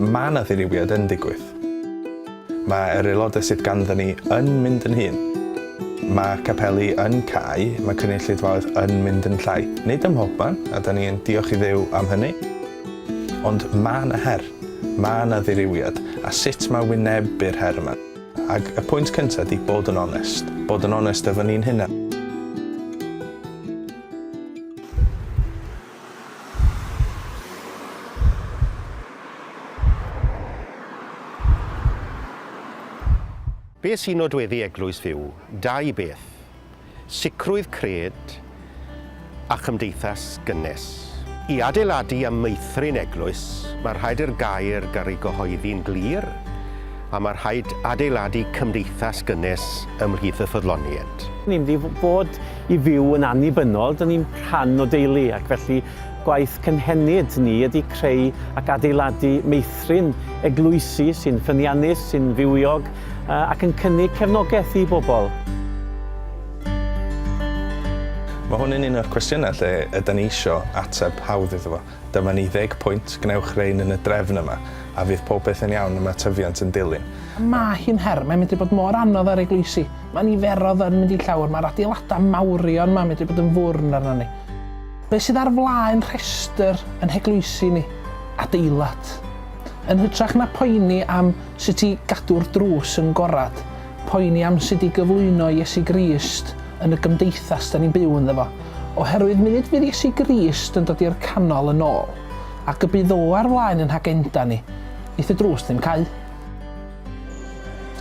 Mae 'na ddirywiad yn digwydd. Mae yr aelodau sydd ganddo ni yn mynd yn hŷn. Mae capeli yn cau, mae cynulleidfaoedd yn mynd yn llai. Nid ym mhobman, a 'da ni yn diolch i Dduw am hynny. Ond mae 'na her. Mae 'na ddirywiad. A sut mae wynebu'r her yma? Ac y pwynt cyntaf ydy bod yn onest. Bod yn onest efo ni'n hunan. Beth sy'n nodweddu eglwys fyw? Dau beth, sicrwydd cred a chymdeithas gynnes. I adeiladu a meithrin eglwys, mae rhaid i'r gair garu gyhoeddi'n glir, a mae rhaid adeiladu cymdeithas gynnes ymhlith y ffyddloniaid. Ni'n mynd i fod I fyw yn annibynnol, dyn ni'n rhan o deulu ac felly gwaith cynhenid ni ydy creu ac adeiladu meithrin eglwysi sy'n ffyniannus, sy'n fywiog ac yn cynnig cefnogaeth i bobl. Mae hwn yn un o'r cwestiynau lle ydan ni isio ateb hawdd iddo fo. Dyma ni ddeg pwynt, gwnewch rein yn y drefn yma, a fydd popeth yn iawn, y mae tyfiant yn dilyn. Mae hi'n her, mae'n medru bod mor anodd ar eglwysi. Mae niferodd yn mynd i llawr, mae'r adeiladau mawrion ma medru bod yn fwrn arnon ni. Be sydd ar flaen rhestr yn heglwysi ni? Adeilad. Yn hytrach na poeni am sut i gadw'r drws yn gorad, poeni am sut i gyflwyno Iesu Grist yn y gymdeithas da ni'n byw ynddo fo. Oherwydd munud fydd Iesu Grist yn dod i'r canol yn ôl, ac y bydd O ar flaen yn hagenda ni, neith y drws ddim cau.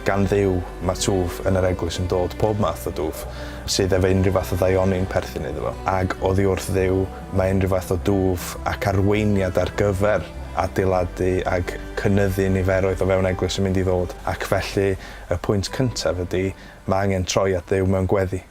Gan Dduw, mae twf yn yr Eglwys yn dod, pob math o dwf, sydd efo unrhyw fath o ddaioni'n perthyn iddo fo. Ag oddi wrth Dduw, mae unrhyw fath o dwf ac arweiniad ar gyfer adeiladu ag cynyddu niferoedd o fewn Eglwys yn mynd i ddod, ac felly, y pwynt cyntaf ydi, mae angen troi at Dduw mewn gweddi.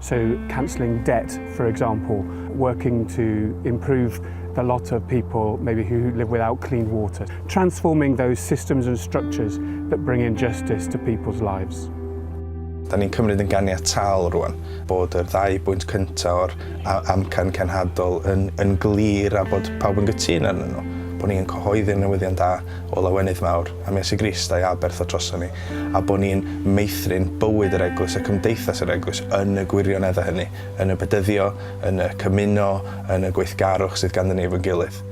So cancelling debt, for example, working to improve the lot of people maybe who live without clean water, transforming those systems and structures that bring in justice to people's lives. Da ni'n cymryd yn ganiataol rwan bod yr ddau bwynt cyntaf o'r amcan cenhadol yn, yn glir a bod pawb yn gytun arnyn nhw, bod ni'n cyhoeddi'r newyddion da o lawenydd mawr. am Iesu Grist a'i aberth o droson ni, a bod ni'n meithrin bywyd yr Eglwys a cymdeithas yr Eglwys yn y gwirioneddau hynny, yn y bedyddio, yn y cymuno, yn y gweithgarwch sydd ganddyn ni efo'n gilydd.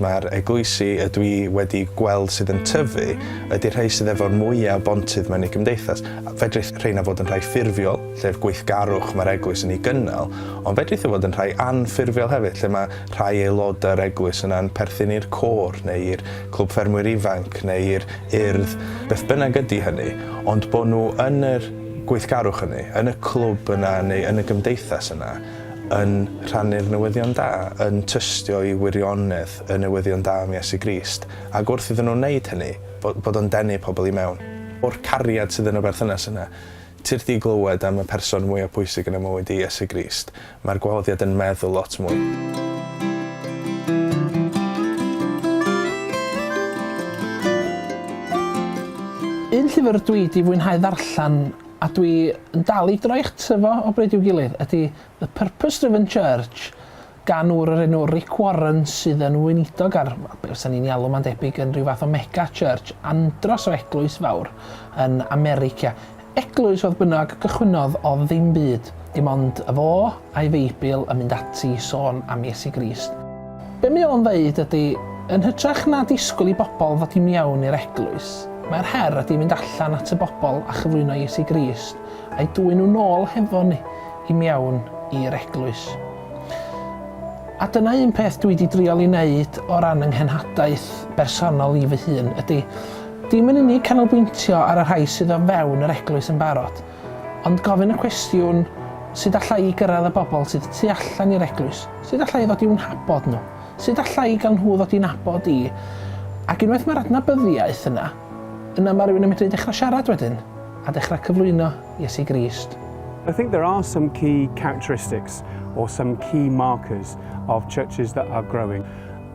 Mae'r eglwysi y dwi wedi gweld sydd yn tyfu ydy'r rhai sydd efo'r mwya' o bontydd mewn eu cymdeithas. Fedrith rheina fod yn rhai ffurfiol, lle'r gweithgarwch mae'r Eglwys yn ei gynnal, ond fedrith o fod yn rhai anffurfiol hefyd, lle mae rhai aelodau'r Eglwys yna'n perthyn i'r côr neu i'r Clwb Ffermwyr Ifanc neu i'r Urdd, beth bynnag ydy hynny, ond bod nhw yn yr gweithgarwch hynny, yn y clwb yna neu yn y gymdeithas yna, yn rhannu'r newyddion da, yn tystio i wirionedd y newyddion da am Iesu Grist, ac wrth iddyn nhw wneud hynny, bod bod o'n denu pobl i mewn. O'r cariad sydd yn y berthynas yna, ti wrthi glywed am y person mwya pwysig yn y mywyd i, Iesu Grist. Mae'r gwahoddiad yn meddwl lot mwy. Un llyfr dwi 'di fwynhau ddarllen a dwi yn dal i droi ato fo o bryd i'w gilydd ydy The Purpose Driven Church gan ŵr o'r enw Rick Warren sydd yn weinidog ar be fysa ni'n ei alw mae'n debyg yn rhyw fath o mega church andros o eglwys fawr yn America. Eglwys fodd bynnag cychwynnodd o ddim byd, dim ond y fo a'i Feibl yn mynd ati i sôn am Iesu Grist. Be mae o'n ddeud ydy, yn hytrach na disgwyl i bobl ddod i miawn i'r eglwys, mae'r her ydy mynd allan at y bobl a chyflwyno Iesu Grist a'i dwyn nhw nôl hefo ni i miawn i'r eglwys. A dyna un peth dwi di drial i neud o ran yng nghenhadaeth bersonol i fy hun ydy, Dim yn unig canolbwyntio ar y rhai sydd o fewn yr Eglwys yn barod, ond gofyn y cwestiwn, sut alla i gyrraedd y bobl sydd y tu allan i'r Eglwys? Sut alla i ddod i'w nhabod nhw? Sut alla i gael nhw ddod i nabod i? Ac unwaith mae'r adnabyddiaeth yna, yna mae rhywun yn medru dechrau siarad wedyn, a dechrau cyflwyno Iesu Grist. I think there are some key characteristics or some key markers of churches that are growing.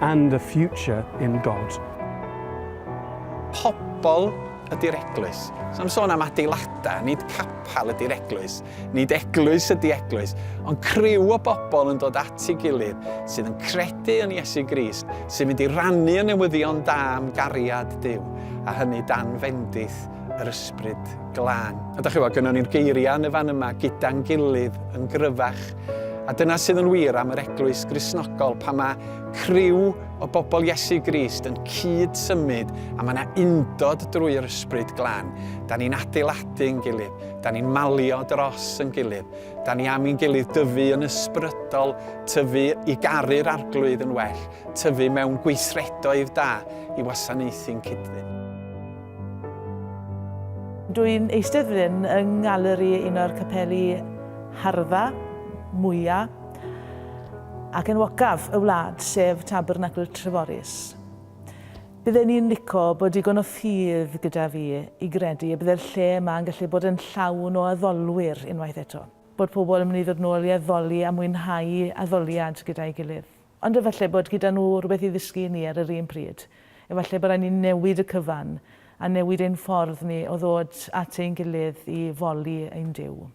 and a future in God. Pobl ydy'r eglwys. So am sôn am adeiladau, nid capel ydy'r eglwys, nid eglwys ydy eglwys, ond criw o bobl yn dod at ei gilydd sydd yn credu yn Iesu Grist, sy'n mynd i rannu y newyddion da am gariad Dyw, a hynny dan fendith yr ysbryd glân. A da chi weld, gynnon ni'r geiriau yn y fan yma, gyda'n gilydd, yn gryfach, A dyna sydd yn wir am yr eglwys grisnogol pan mae criw o bobl Iesu Grist yn cyd symud a mae yna undod drwy'r ysbryd glan. Da ni'n adeiladu'n gilydd, da ni'n malio dros yn gilydd, da ni am i'n gilydd dyfu yn ysbrydol, tyfu i garu'r arglwydd yn well, tyfu mewn gweithredoedd da i wasanaethu'n cydfyn. Dw i'n eistedd fan hyn yng nghaleri un o'r capeli harddfa, mwya', ac enwocaf y wlad, sef Tabernacl Treforys. Bydden i'n lico bod digon o ffydd gyda fi i gredu y bydde'r lle yma yn gallu bod yn llawn o addolwyr unwaith eto, bod pobl yn mynd i ddod nôl i addoli a mwynhau addoliad gyda'i gilydd. Ond efallai bod gyda nhw rywbeth i ddysgu i ni ar yr un pryd. Efallai bod raid ni newid y cyfan, a newid ein ffordd ni o ddod at ein gilydd i foli ein Duw.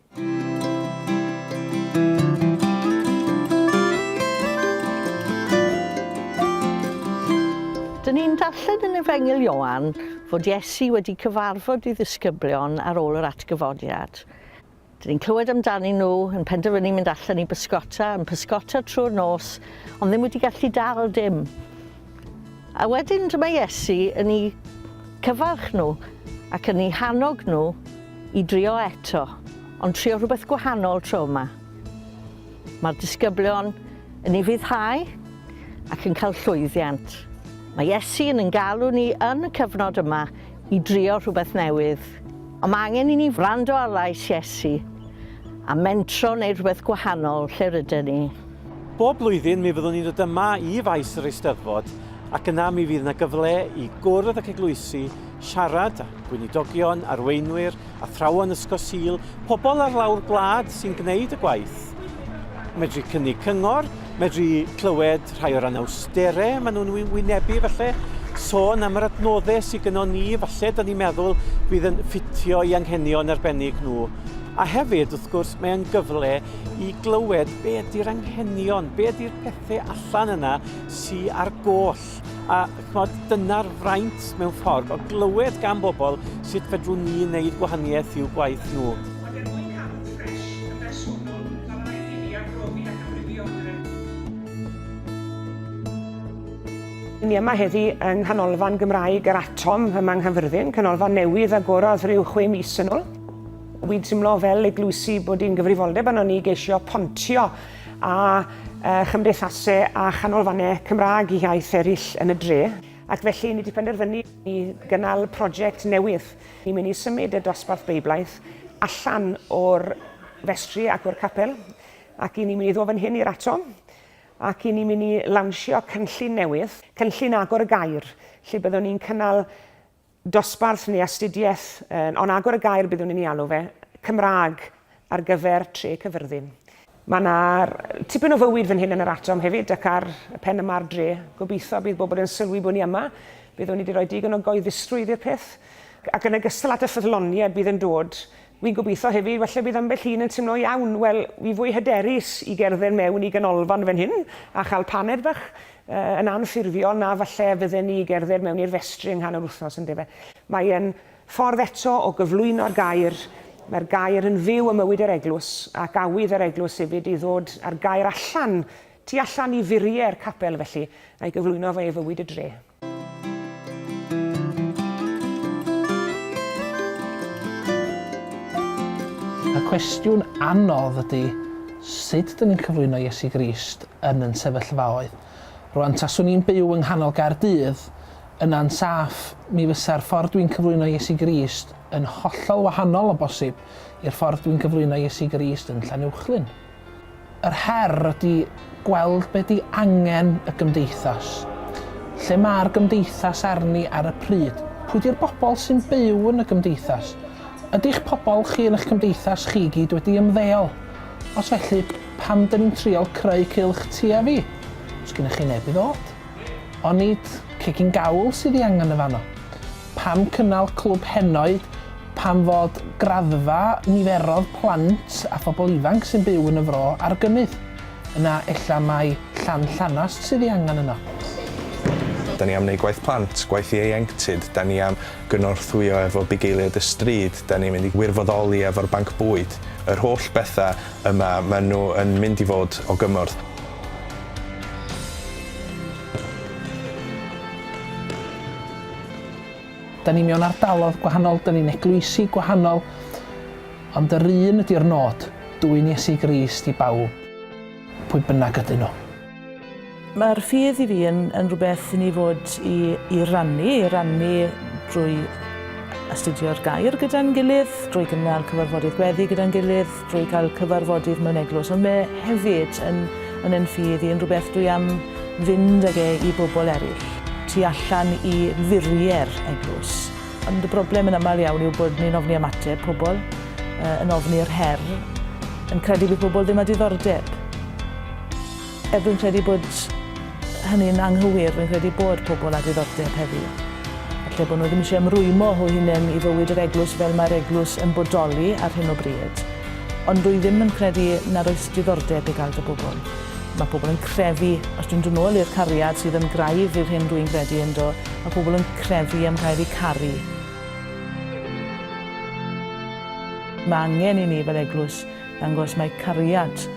Dyn ni'n darllen yn Efengyl Ioan fod Iesu wedi cyfarfod ei ddisgyblion ar ôl yr atgyfodiad. Dyn ni'n clywed amdanyn nhw, yn penderfynu mynd allan i bysgota, yn pysgota trwy'r nos, ond ddim wedi gallu dal dim. A wedyn dyma Iesu yn ei cyfarch nhw ac yn ei hannog nhw i drio eto, ond trio rhywbeth gwahanol tro yma. Mae'r disgyblion yn ei ryddhau ac yn cael llwyddiant. Mae Iesu yn yn galw ni yn y cyfnod yma i drio rhywbeth newydd. Ond mae angen i ni wrando ar lais Iesu a mentro wneud rhywbeth gwahanol lle ryden ni. Bob blwyddyn mi fyddwn ni'n dod yma i faes yr Eisteddfod ac yna mi fydd 'na gyfle i gwrdd ac eglwysi, siarad â gweinidogion, arweinwyr, athrawon Ysgol Sul, pobl ar lawr gwlad sy'n gwneud y gwaith. Medru cynnig cyngor, medru clywed rhai o'r anawsterau maen nhw'n wynebu falle, sôn am yr adnoddau sydd gyda ni, falle da ni'n meddwl bydd yn ffitio i anghenion arbennig nhw. A hefyd, wrth gwrs, mae'n gyfle i glywed be ydy'r anghenion, be ydy'r pethau allan yna sy'n ar goll. arall. A chmod, dyna'r fraint mewn ffordd o glywed gan bobl sut fedrwn ni wneud gwahaniaeth i'w gwaith nhw. Ond er mwyn cadw ffres yn bersonol, mae'n rhaid i ni arbrofi ac amrywio yn yr Ni yma heddi yng Nghanolfan Gymraeg yr Atom yma yng Nghaerfyrddin, canolfan newydd agorodd rhyw chwe mis yn ôl. Wi'n timlo fel eglwysi bod hi'n gyfrifoldeb arnon ni geisio pontio a chymdeithasau a chanolfannau Cymraeg iaith eraill yn y dre, ac felly ni wedi penderfynu i gynnal prosiect newydd. Ni'n mynd i symud y dosbarth Beiblaidd allan o'r festri ac o'r capel, ac i ni'n mynd i ddod fan hyn i'r ato, ac i ni'n mynd i lawnsio cynllun newydd, cynllun agor y gair, lle byddwn ni'n cynnal dosbarth neu astudiaeth, ond agor y gair byddwn i'n ei alw fe, Cymraeg ar gyfer Tre Cyfyrddin. Mae 'na tipyn o fywyd fan hyn yn yr Atom hefyd ac ar y pen yma'r dre. Gobeithio bydd bobl yn sylwi bod ni yma, byddwn ni 'di rhoi digon o goeddistrwydd i'r peth. Ac yn ogystal at y ffyddloniaid bydd yn dod, Wi'n gobeithio hefyd, falle bydd ambell un yn timlo, iawn, wel, wi fwy hyderus i gerdded mewn i ganolfan fan hyn a chael paned bach yy yn anffurfiol na falle fydden ni i gerdded mewn i'r festri yng nghanol wythnos, ynde fe? Mae e'n ffordd eto o gyflwyno'r gair, mae'r gair yn fyw ym mywyd yr eglwys, ac awydd yr eglwys hefyd i ddod â'r gair allan, tu allan i furiau'r capel felly, a'i gyflwyno fe i fywyd y dre. Y cwestiwn anodd ydy, sut dyn ni'n cyflwyno Iesu Grist yn yn sefyllfaoedd? Rwan, taswn i'n byw yng nghanol Gaerdydd, yna'n saff, mi fysa'r ffordd dwi'n cyflwyno Iesu Grist yn hollol wahanol o bosib i'r ffordd dwi'n cyflwyno Iesu Grist yn Llanuwchllyn. Yr her ydy gweld be ydy angen y gymdeithas. Lle mae'r gymdeithas arni ar y pryd? Pwy ydy'r bobl sy'n byw yn y gymdeithas? Ydy'ch pobl chi yn eich cymdeithas chi i gyd wedi ymddeol? Os felly, pam dyn ni'n trial creu cylch tua fi? Os gennych chi neb i ddod? Onid cegin gawl sydd i angen yn fanno? Pam cynnal Clwb Henoed? Pam fod graddfa niferodd plant a phobl ifanc sy'n byw yn y Fro ar gynnydd? Yna ella mai Llan Llanast sydd ei angen yno. Da ni am wneud gwaith plant, gwaith ieuenctid, da ni am gynorthwyo efo bugeiliaid y stryd, da ni'n mynd i wirfoddoli efo'r banc bwyd, yr holl bethau yma, maen nhw yn mynd i fod o gymorth. Da ni mewn ardalodd gwahanol, da ni'n eglwysi gwahanol, ond yr un ydy'r nod, dwyn Iesu Grist i bawb, pwy bynnag ydyn nhw. Mae'r ffydd i fi yn, yn rhywbeth i ni fod i, i rannu, i rannu drwy astudio'r gair gyda'n gilydd, drwy gynnal cyfarfodydd gweddi gyda'n gilydd, drwy cael cyfarfodydd mewn eglwys, ond mae hefyd yn yn yn ffydd i yn rhywbeth dwi am fynd ag e i bobl eraill, tu allan i furiau'r eglwys. Ond y broblem yn aml iawn yw bod ni'n ofni ymateb pobl, yn ofni yr her, yn credu bydd pobl ddim â diddordeb. Er dwi'n credu bod hynny'n anghywir, rwy'n credu bod pobl â diddordeb heddiw, falle bod nhw ddim eisiau ymrwymo nhw hunain i fywyd yr Eglwys fel mae'r Eglwys yn bodoli ar hyn o bryd, ond rwy ddim yn credu nad oes diddordeb i gael dy bobl. Mae pobl yn crefu, os dwi'n dod nôl i'r cariad sydd yn graidd i'r hyn rwy'n gredu ynddo, mae pobl yn crefu am gael eu caru. Mae angen i ni fel Eglwys ddangos mai cariad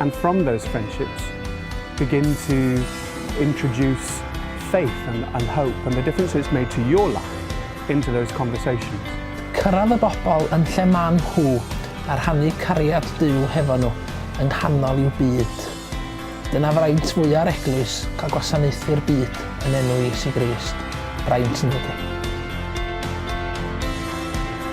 And from those friendships begin to introduce faith and, and hope and the difference it's made to your life into those conversations. Cyrraedd y bobl yn lle maen nhw a rhannu cariad Duw hefo nhw yng nghanol i'w byd. Dyna fraint fwya'r Eglwys, cael gwasanaethu'r byd yn enw Iesu Grist. Braint, yndydi?